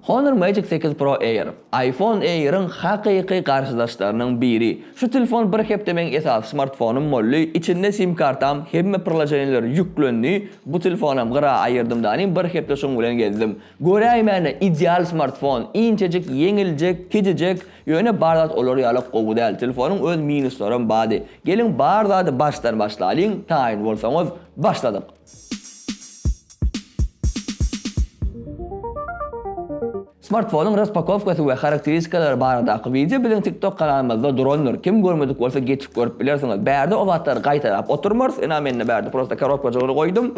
Honor Magic sekiz Pro Air, iPhone Air-iň hakyky garşydaşlarynyň biri. Şu telefon bir hepde meň esasy smartfonym boldy, içinde sim kartam, hemme priloženiýalar ýüklendi, bu telefonam gyra aýyrdym danym bir hepde şuň bilen gezdim. Göräýmäne ideal smartfon, inçejik, ýeňiljek, kicijek, ýöne bar zat olar ýalak gowy däl, telefonyň öz minuslaram bady. Geliň bar zady başdan başlalyň, taýyn bolsaňyz, başladyk. Smartfonyň raspakowkasy we harakteristikalary baradaky wideo biziň TikTok kanalymyzda durandyr, kim görmedik bolsa geçip görüp bilersiňiz. Bärde o zatlary gaýtalap oturmarys, ynha mende bärde prosta korobkajygyny goýdum.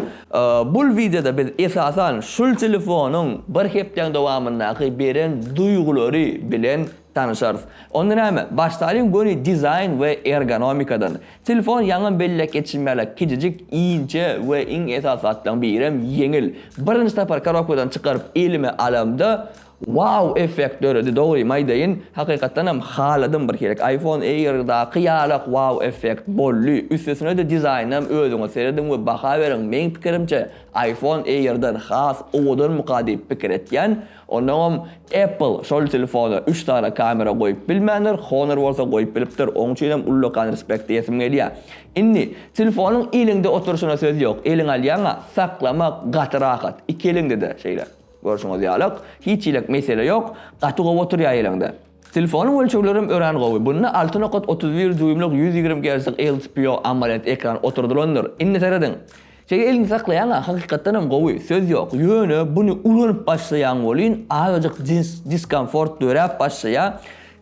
Bul wideoda biz esasan şul telefonyň bir hepdäň dowamyndaky beren duýgulary bilen Tanyşarys. Onda näme, başlalyň göni dizaýn we ergonomikadan. Telefon ýaňam belläp geçişim ýaly, kiçijik, inçe we iň esasy zatlaryň birem ýeňil. Birinji sapar korobkadan çykaryp elime alamda, Wow effekt döredi, dogrymy aýdaýyn, hakykatdanam haladym bir sirek, iPhone Air-daky ýalak wow effekt boldy, üstesine-de dizaýnynam özüňiz serediň we baha beriň, meň pikirimçe iPhone Air-den has owadanmyka diýip pikir etýän, Onnoňam Apple şol telefona üç sany kamera goýup bilmändir, Honor bolsa goýup bilipdir, oň üçinem ullakan respekt diýesim gelýär. Indi, telefonyň eliňde oturyşyna söz ýok, eliňe alýaň-a, saklamak gaty rahat, iki eliňde-de şeýle, görşüňiz ýalyk, hiç hiläk mesele ýok, gaty gowy oturýar eliňde. Telefonyň ölçeglerem örän gowy. Bunda alty nokat otuz bir dýuýmlyk ýüz ýigrimi gerclik LCPO AMOLED ekran oturdylandyr. Indi seradyň. Çeýe elinde saklaýaňa hakykatdanam gowy, söz ýok. Ýöne buny ulanyp başlaýaň welin azajyk diskomfort döräp başlaýa.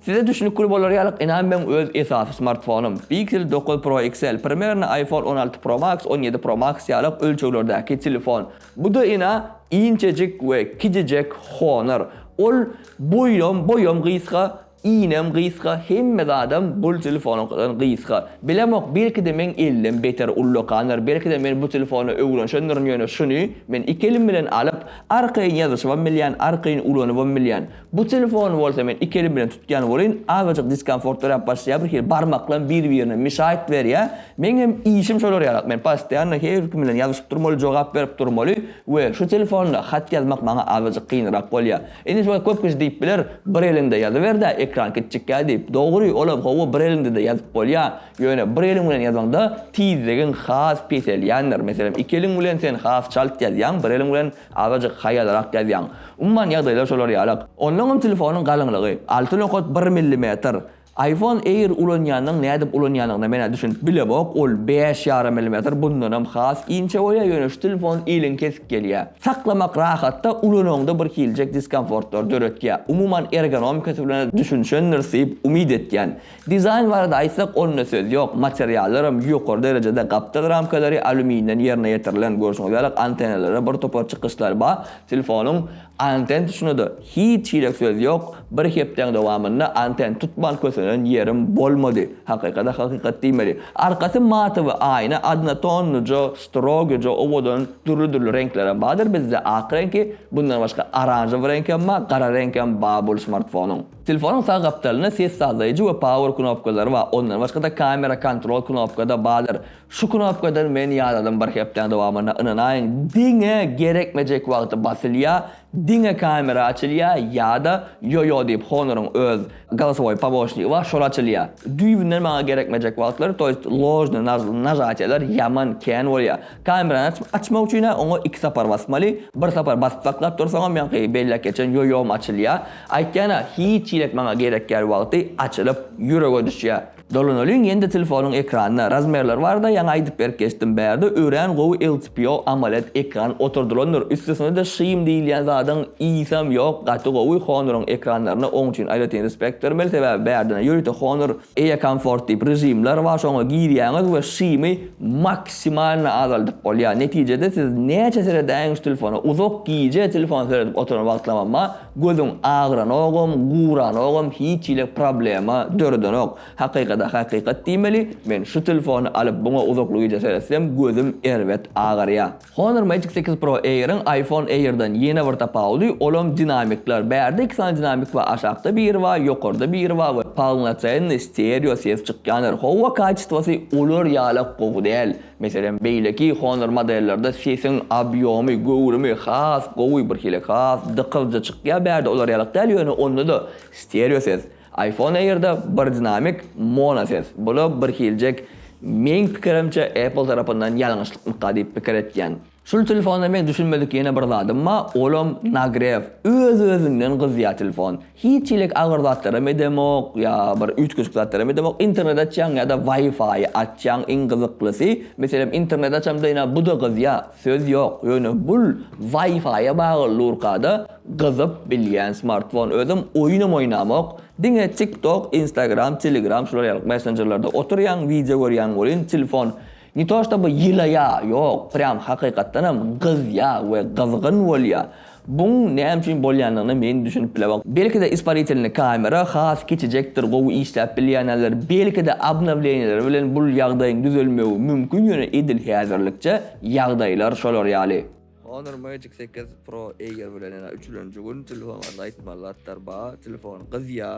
Size düşnükli bolar ýalyk ynam meň öz esasy smartfonym Pixel dokuz Pro XL, primerno iPhone on alty Pro Max, on ýedi Pro Max ýalyk ölçeglerdäki telefon. Bu-da ina inçejik we kiçijek honar. Ol boýam, boýam gysga, iýinem gysga, hemme zadam bul telefonynkydan gysga. Bilemok, belki-de meň ellim beter ullakandyr, belki-de men bu telefony öwrenşendirin, ýöne şuny men iki elim bilen alyp, arkaýyn ýazyşybam bilýän, arkaýyn ulanybam bilýän. Bu telefony bolsa men iki elim bilen tutýan welin azajyk diskomfort döräp başlaýar bir hili barmaklam bir birine mişaýt berýär meň hem işim şolar ýalak men postoýanno her kim bilen ýazyşyp durmaly jogap berip durmaly we şu telefonda hat ýazmak maňa azajyk kynrak bolýar indi şuňa köp kişi diýip biler bir eliňde ýazyberdä ekran kiçjikkä diýip dogry olam howwa bir eliňdede ýazyp bolýar ýöne bir eliň bilen ýazanda tizligiň has peselýändir meselem iki eliň bilen sen has çalt ýazýaň bir eliň bilen Azajyk haýalrak ýazýaň. Umuman ýagdaýlar şolar ýalak. Onnoňam telefonyň galyňlygy, alty nokat bir millimetr. Aýfon Air ulanýanyň nädip ulanýanyna men-ä düşünip bilemok, ol bäş ýarym millimetr bundanam has inçe bolýar, ýöne şu telefon iliň kesip gelýär. Saklamak rahat-da, ulanaňda bir hiljek diskomfortlary döretýär. Umuman ergonomikasy bilen-ä düşünişendiris diýip umyt etýän. Dizaýn barada aýtsak, onda söz ýok, materiallaram ýokary derejede, gapdal ramkalary alýuminden ýerine ýetirilen, görşüňiz ýalyk antenalary bir topar çykyşlary bar, telefonyň anten tutuşyna-da hiç hili söz ýok, bir hepdäň dowamynda anten tutman kösenen ýerim bolmady, hakykata hakykat diýmeli. Arkasy matowy aýna odnotonnyja, strogyja owadan, dürli-dürli reňklerem bardyr, bizde ak reňki, bundan başga oranžowy reňkem bar, gara reňkem bar bul smartfonyň. Telefonyň sag gapdalynda ses sazlaýjy we power knopkalary bar, ondan başga-da kamera kontrol knopka-da bardyr. Şu knopkadan men ýadadym bir hepdäň dowamynda ynanaýyň diňe gerekmejek wagty basylýa, diňe kamera açylýa ýa-da ýo-ýo diýip Honor-yň öz galasowoý pomoçnigi bar şol açylýa. Düýbünden maňa gerekmejek wagtlary to ýest ložny nažatýalar ýaman kän bolýa. Kamerany açyp açmak üçin-ä oňa iki sapar basmaly, bir sapar basyp saklap dursaňam ýaňky belläp geçen ýo-ýom açylýa. Aýtýan-a, hiç hili et maňa gerek ýaly wagty açylyp, ýürege düşýär. Dolanalyň ýene-de telefonyň ekranyna. Razmerler barada ýaňy aýdyp berip geçdim. Bärde örän gowy LCPO AMOLED ekran oturdylandyr. Üstesine-de şym diýilýän zadyň yzam ýok, gaty gowy. Honoryň ekranlaryna oň üçin aýratyn respekt bermeli, sebäbi bärdene ýörite Honor Ea Comfort diýip režimler bar, şoňa girýäňiz we şymy maksimalna azaldyp bolýar. Netijede siz näçe seredäýiň şu telefona, uzak gije telefon seredip oturan wagtlamam bar. Gözüň agyranogam, guranogam hiç hili problema döredenok. Hakykada hakykat diýmeli, men şu telefony alyp buňa uzakly gije seretsem gözüm erbet agarýa. Honor Magic sekiz Pro Air-iň iPhone Air-dan ýene bir tapawudy, olam dinamikler. Bärde iki sany dinamik bar, aşakda biri bar, ýokarda biri bar we polnocennyý stereo ses çykýandyr. Howa kaçestwasy olar ýalak gowy däl. Meselem, beýleki Honor modellerde sesiň obýomy, göwrümi has gowy, birhili has dykylyja çykýar, bärde olar ýalyk däl, ýöne onda-da stereo ses. Iphone Air-de bir dinamik, mono ses. Bu-da birhiljek. Meň pikirimçe, Apple tarapyndan ýalňyşlykmyka diýip pikir etýän. Şul telefonda meň düşünmedik ýene bir zadym ba olam nagrew öz özünden gyzýa telefon hiç hilik agyr zatlaram edemok ýa bir üýtgeşik zatlaram edemok internet açýaň ýada wifi açýaň iň gyzyklysy meselem internet açamda ina buda gyzýa söz ýok ýöne bul wifi bagyl durkada gyzyp bilýän smartfon özem oýunam oýnamok diňe tik tok instagram telegram şular ýaly messenjerlerde otyrýaň wideo görýäň welin telefon Ne to ştoby ýylaýa, ýok, prýam hakykatdanam gyzýa we gyzgyn bolýa. Buň näme üçin bolýanyna men düşünip bilemok. Belki-de isparitelni kamera has kiçijekdir, gowy işläp bilýänäler, belki-de obnowleniýeler bilen bul ýagdaýyň düzelmegi mümkin ýöne edil häzirlikçe ýagdaýlar şolar ýaly. Honor Magic sekiz Pro Air bilen ýene üçülenji gün telefon barada aýtmaly zatlar bar, telefon gyzýa.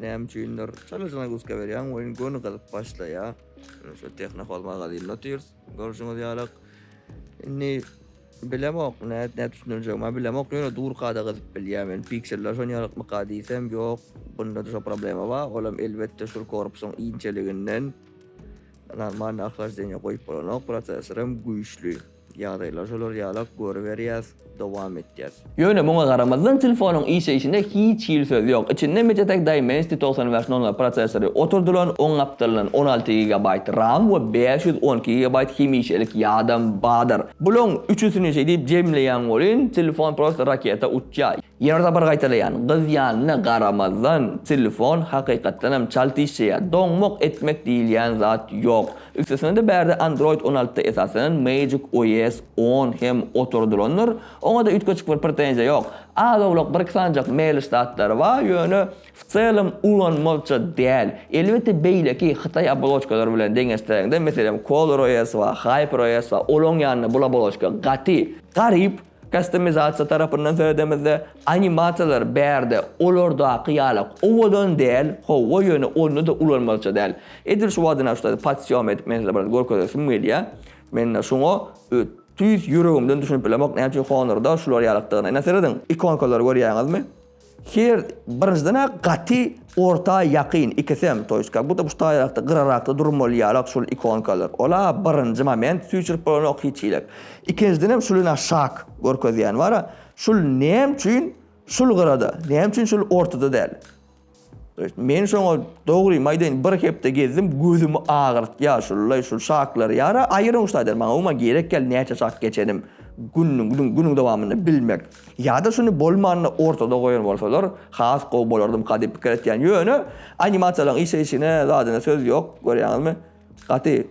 Näme üçindir çalaçana guska berýän oýun göni gyzyp başlaýar. Şu tehna holma galyny otyrs. Görşüňiz ýalak. Indi bilemok ne ne düşünjek. Ma bilemok ýöne dur kada gyzyp bilýär men. Pikseller şon ýalak mı kada diýsem ýok. Bunda da şu problema bar. Olam elbetde şu korpusyň inçeliginden. Normal ahlak zenya goýup bolanok. Prosesor hem güýçli. Ýagdaýlar şolar ýalak görüberýäs, dowam etýäs. Ýöne muňa garamazdan telefonyň işleýşinde hiç hili söz ýok. Içinde Mediatek Dimensity togsan bäş nol nol prosessory oturdylan, oň gapdalyndan on alty gigabaýt ram we bäş ýüz on iki gigabaýt hemişelik ýadam badyr. Bulaň üçüsini şeýdip jemleýäň welin, telefon prosta raketa uçýar. Ýene-bir sapar gaýtalaýan, gyzýanyna garamazdan, telefon hakykatdanam çalt işleýär. Doňmak etmek diýilýän zat ýok. Üstesine-de bärde Android on altyda esaslanan Magic OS on hem oturdylandyr, oňa-da üýtgeşik bir pretenziýa ýok. Az-owlak bir-iki sanjak mälis zatlary bar, ýöne w celem ulanmazça däl. Elbetde beýleki hytaý oboloçkalary bilen deňeşdiräňde, meselem ColorOS bar, HyperOS bar, olaň ýanynda bul oboloçka gaty garyp. Kastomizasiýa tarapyndan söz edemizde, animasiýalar bärde olardaky ýala owadan däl, howwa ýöne onda-da ulanmalyça däl. Edil şu wagtdan aşda pat sýom edip men size biraz görkezesim gelýär. Mende şuňa tüýs ýüregimden düşünip bilemok näme üçin Honor-da şular ýalykdygyna. Ine serediň, ikonkalary görýäňizmi? Her birinjiden-ä gaty orta ýakyn ikisem, to ýeska bu-da buşdaýrakda, gyrarakda durum bolýarlar şul ikonkalar. Ol-a birinji moment süýşürip bolanok hiç hili. Ikinjidenem şul ine şak görkezýän bar-a, şul näme üçin şul gyrada, näme üçin şul ortada däl? To ýest men şoňa dogrymy aýdaýyn bir hepde gezdim, gözümi agyrtýar şullaý şul şaklar. Ýara aýryň şaýdar maňa umuman gerek ýaly näçe şak geçenim günüň günüň dowamynda bilmek. Ýa-da şuny bolmanda ortada goýan bolsalar has gowy bolardymka diýip pikir etýän. Ýöne animasiýalaryň işleýşine zadyna söz ýok, görýäňizmi? Gaty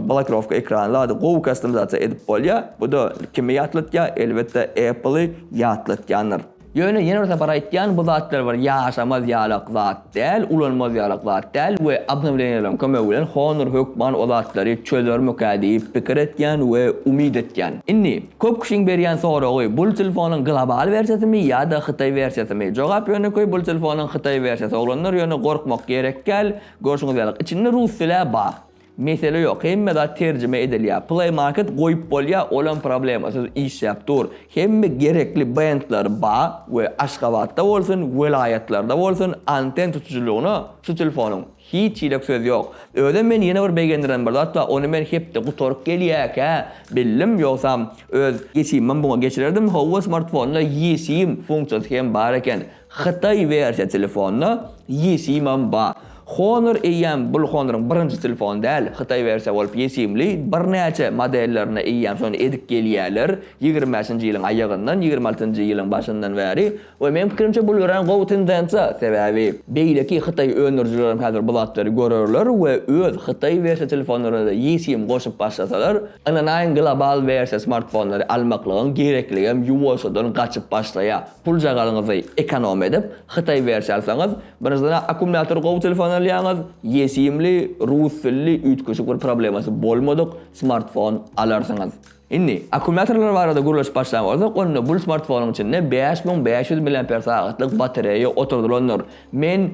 blokirowka ekrany zady gowy kastomizasiýa edip bolýar. Bu-da kimi ýatlatýar? Elbetde Apple-y ýatlatýandyr. Ýöne ýene bir sapar aýtýan, bu zatlar bir ýaşamaz ýalak zat däl, ulanmaz ýalak zat däl we obnowleniýalaryň kömegi bilen Honor hökman o zatlary çözermikä diýip pikir etýän we umyt etýän. Indi. Köp kişiň berýän soragy, bul telefonyň global wersiýasymy ýa-da hytaý wersiýasymy? Jogap ýönekeý bul telefonyň hytaý wersiýasy oglanlar ýöne gorkmak gerekgäl, görşüňiz ýaly içinde rus dilä bar. Mesele ýok hemme zat terjime edilýär. Play market goýup bolýa olam problemasyz işläp dur. Hemme gerekli bendler ba we Aşgabatda bolsun welaýatlarda bolsun anten tutujylygyna şu telefonyň. Hiç hile söz ýok. Özem meni ýene bir begendiren bir zat bar, ony men hepde gutaryp gelýäkä bildim, ýogsam öz eSIM-ym buňa geçirerdim, howwa smartfonda eSIM funksiýasy hem bar eken. Hytaý wersiýa telefonda eSIM-am bar. Honor eýýäm bul Honor-yň birinji telefony däl, hytaý wersiýa bolup eSIM-li birnäçe modellerine eýýäm şony edip gelýäler, ýigrimäşinji ýylyň aýagyndan ýigrimi altynjy ýylyň başyndan bäri We meň pikirimçe bul örän gowy tendensiýa, sebäbi beýleki hytaý öndürijilerem häzir bu zatlary görerler we öz hytaý wersiýa telefonlaryna-da eSIM goşup başlasalar, ynanaýyň global wersiýa smartfonlary almaklygyň gerekligem ýuwaşjadan gaçyp başlaýar. Puljagazyňyzy ekonom edip, hytaý wersiýa alsaňyz, birinjiden-ä akkumulýator gowy telefon alýaňyz, eSIM-li, rus dilli üýtgeşik bir problemasy bolmadyk smartfon alarsyňyz. Indi, akkumulýatorlar barada gürleşip başlan bolsak, onda bul smartfonyň içinde bäş müň bäş ýüz miliamper sagatlyk batareýa oturdylandyr. Men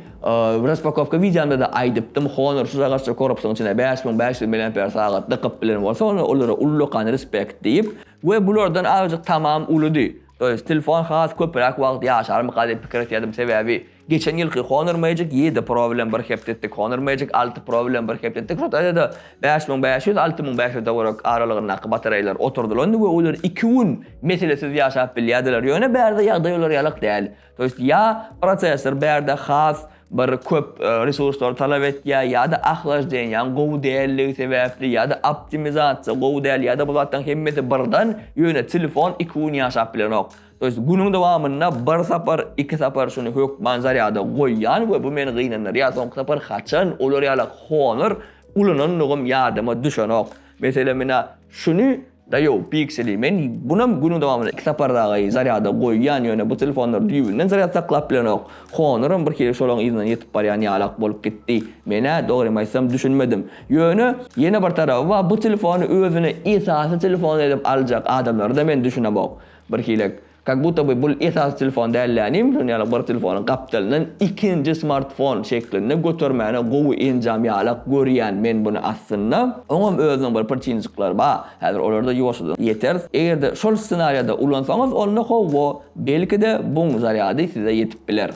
raspakowka wideomda-da aýdypdym, Honor şu zagazça korpusyň içine bäş müň bäş ýüz miliamper sagat dykyp bilen bolsa, onda olara ullakan respekt diýip. We bulardan azajyk tamam ulydy. To ýest, telefon has köpräk wagt ýaşarmyka diýip pikir etýärdim, sebäbi. Geçen ýylky Honor Magic ýedi Pro bilen bir hepde etdik, Honor Magic alty Pro bilen bir hepde etdik. Şo taýda-da bäş müň bäş ýüz, alty müň bäş ýüz-e görek aralygyndaky batareýalar oturdylandy we olar iki gün meselesiz ýaşap bilýärdiler. Ýöne bärde ýagdaý olar ýalak däl. To ýest ýa prosessor bärde has bir köp resurslary talap etýär, ýa-da ahlajdenýaň gowy däldigi sebäpli, ýa-da optimizasiýa gowy däl, ýa-da bu zatlaryň hemmesi birden, ýöne telefon iki gün ýaşap bilenok. To jest günüň dowamynda bir sapar, iki sapar şuny hökman zarýada goýýan we bu meni gynandyrýar, soňky sapar haçan olar ýaly honor ulanandygym ýadyma düşenok. Meselem ina şuny da ýok Pixel-i men bunam günüň dowamynda iki sapar dagy zarýada goýýan ýöne bu telefonlar düýbünden zarýad saklap bilenok. Honoram bir hili şolaň yzyna ýetip barýan ýalak bolup gitdi. Menä dogrymy aýtsam düşünmedim. Ýöne ýene bir taraby bar bu telefony özüne esasy telefon edip aljak adamlara-da men düşünemok. Bir hilek, kak buta by bul esasy telefon dällänim şun ýaly bir telefonyň gapdalyndan ikinji smartfon şeklinde götermäne gowy enjam ýalak görýän men buny aslynda. Oňam özüniň bir prçinjikleri ba, häzir olarda ýuwaşjadan ýeteris. Egerde şol ssenariýada ulansaňyz onda howwo belkide buň zarýady size ýetip biler.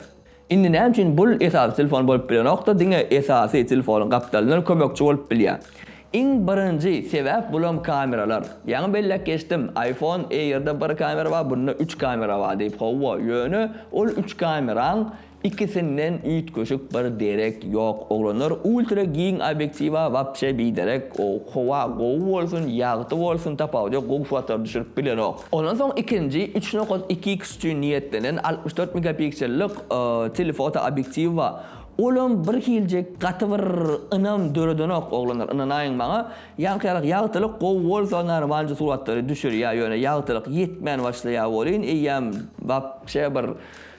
Indi näme üçin bul esasy telefon bolup bilenokda diňe esasy telefonuň gapdalyndan kömekçi bolup bilýä. Iň birinji sebäp bulam kameralar. Ýaňy belläp geçdim iPhone Airda bir kamera bar bunda üç kamera bar diýip howwa ýöne ol üç kameraň ikisinden üýtgeşik bir derek ýok oglanlar ultra giň obýektiwa wapşe biderek ow howa gowy bolsun ýagty bolsun tapawudy ýok gowy suratlar düşürip bilenok. Ondan soň ikinji üç nokat iki x üçin niýetlenen altmyş dört megapiksellik telefoto obýektiwi bar. Olam bir hiljek gaty bir ynam döredenok oglanlar ynanaýyň maňa. Ýaňkyrak ýagtylyk gowy bolsa normalnje suratlary düşürýä ýöne ýagtylyk ýetmän başlaýa welin eýýäm wapşe bir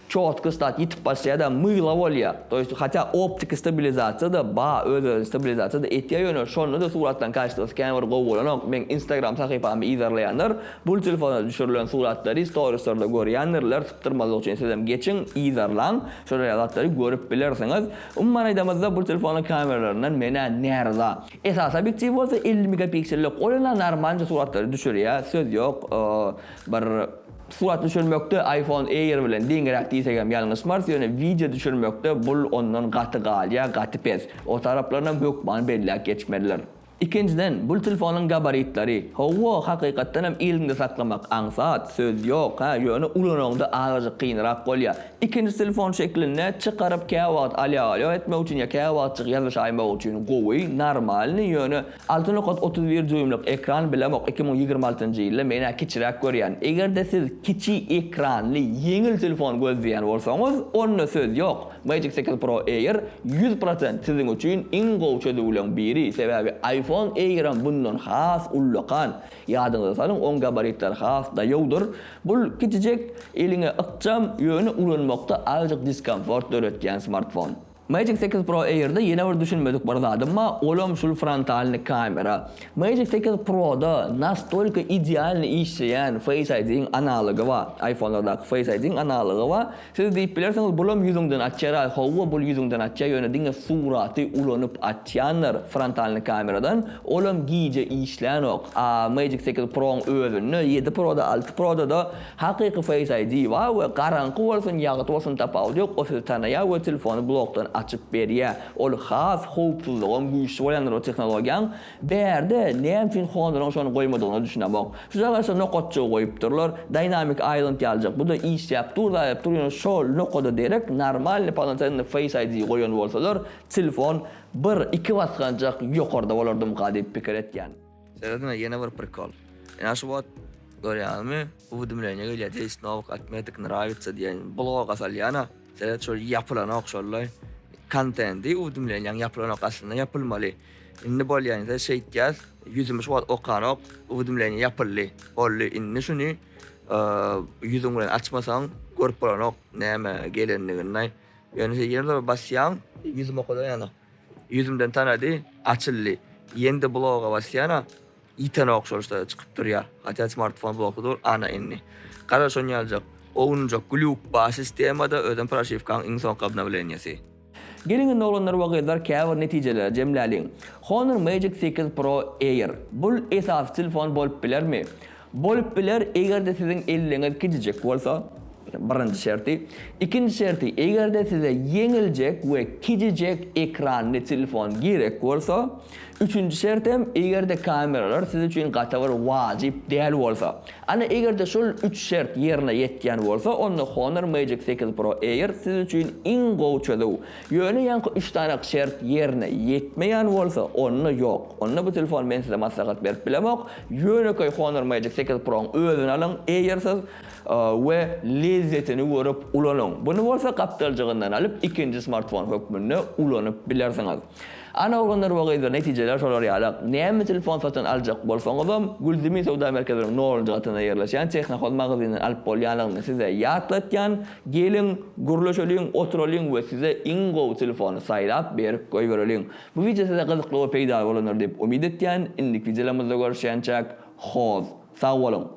Çotky stat ýitip başlaýada mygla bolýa to ýest hatýa optiki stabilizasiýada ba öz özüni stabilizasiýada etýa ýöne şonda da suratlaryň kaştosy kän bir gowy bolanok meň instagram sahypamy yzarlaýanlar bul telefona düşürilen suratlary storislarda görýändirler sypdyrmazlyk üçin sizem geçiň yzarlaň şolar ýaly zatlary görüp bilersiňiz umuman aýdamyzda bul telefonyň kameralaryndan menä näryza esasy obýektiwi bolsa elli megapiksellik ol enä narmalnje suratlary düşürýa söz ýok bir Surat düşürmekde iPhone Air bilen deňiräk diýsek hem ýalňyşmarys, ýöne wideo düşürmekde bul ondan gaty galýar, gaty pes. O taraplarynam hökmany belläp geçmelidir. Ikinjiden, bul telefonyň gabaritleri, hawa, hakykatdan hem eliňde saklamak aňsat, söz ýok, hä, ýöne ulanaňda azajyk kynrak bolýar. Ikinji telefon şeklinde çykaryp käwagt alýa-galýa etmek üçin ýa käwagtjyk ýazyşaýmak üçin gowy, normalnyý, ýöne. Alty nokat otuz bir dýuýmlyk ekran bilemok iki müň ýigrimi altynjy ýylda menä kiçiräk görýän. Egerde siz kiçi ekranly ýeňil telefon gözleýän bolsaňyz onda söz ýok Magic sekiz Pro Air ýüz prosent siziň üçin iň gowy çözüwleň biri sebäbi iPhone Airam bundan has ullakan ýadyňyza salyň oň gabaritleri has daýawdyr bul kiçijek eliňe ykjam ýöne ulanmakda azjyk diskomfort döretýän smartfon. Magic sekiz Pro Air-de ýene bir düşünmedik bir zadym bar, olam şul frontalny kamera. Magic sekiz Pro-da nastolka idealny işleýän Face ID-iň analogy bar, iPhone-lardaky Face ID-iň analogy bar. Siz diýip bilersiňiz, bulam ýüzüňden açýar-aý. Hawa, bul ýüzüňden açýar, ýöne diňe suraty ulanyp açýandyr frontalny kameradan, olam gije işlänok. A Magic sekiz Pro-yň özünde, ýedi Pro-da, alty Pro-da-da Hakyky face ID bar we garaňky bolsun ýagty bolsun tapawudy ýok o sizi tanaýar we telefony blokdan açyp berýär ol has howpsuzlygam güýçli bolýandyr o tehnologiýaň bärde näme üçin Honor-yň şony goýmadygyna düşünemok şu zaraşa nokatjygy goýupdyrlar dynamic island ýaljak bu da işläp dur zaýap dur ýöne şol nokada derek normalny polnocennyý face ID goýan bolsalar telefon bir iki basganjak ýokarda bolardymyka diýip pikir etýän. Serediňe ýene bir prikol. Ina şu wagt görýäňizmi uwdimleniýa gelýär deýs nowk atmetik nrawitsa diýen bloga salýana seret şol ýapylanok şollaý kontendi uwdimleniýaň ýapylanok aslynda ýapylmaly indi bolýa indi şeýtýäs ýüzümi şu wagt okanok uwdimleniýa ýapyldy boldy indi şuny ýüzüň bilen açmasaň görüp bolanok näme gelendigini ýöne ýerde basýaň ýüzüm okadan ýanok Ýüzümden tanady, açyldy. Ýeňde bloga basýan-a, ýiten ogşalyşda-da çykyp durýar. Hatda smartfon blogy dur, ana indi. Gara şony ýaljak, owunjak glýuk bar sistemada, özem proşiwkaň iň soňky obnowleniýesi. Geliň indi oglanlar we gyzlar käbir netijeleri jemläliň. Honor Magic sekiz Pro Air. Bul esasy telefon bolup bilermi? Bolup biler, eger-de siziň elliňiz gijijek bolsa, birinji şerti. Ikinji şerti, eger-de size ýeňiljek we kijijek ekranly telefon gerek bolsa. Üçünji şertem, eger-de kameralar siz üçin gaty bir wajyp däl bolsa. Ana, eger-de şol üç şert ýerine ýetýän bolsa, onda Honor Magic sekiz Pro Air siz üçin iň gowy çözüw. Ýöne ýaňky üç sanak şert ýerine ýetmeýän bolsa, onda ýok. Onda bu telefony men size maslahat berip bilemok. Ýönekeý Honor Magic sekiz Pro-ny özüne alyň, eýersiz, we lezzetini görüp ulanyň. Buny bolsa gapdaljygyndan alyp, ikinji smartfon hökmünde ulanyp bilersiňiz. Ana oglanlar we gyzlar, netijeler şolar ýaly. Näme telefon satyn aljak bolsaňyzam, Gülzümi söwda merkeziniň nolunjy gatynda ýerleşýän Technohoz magazininden alyp bolýanlygyny size ýatlatýan, geliň, gürleşeliň, oturalyň we size iň gowy telefony saýlap berip goýbereliň. Bu wideo size gyzykly we peýdaly bolandyr diýip umyt etýän, indiki wideolarymyzda görüşýänçäk, hoz, sag boluň!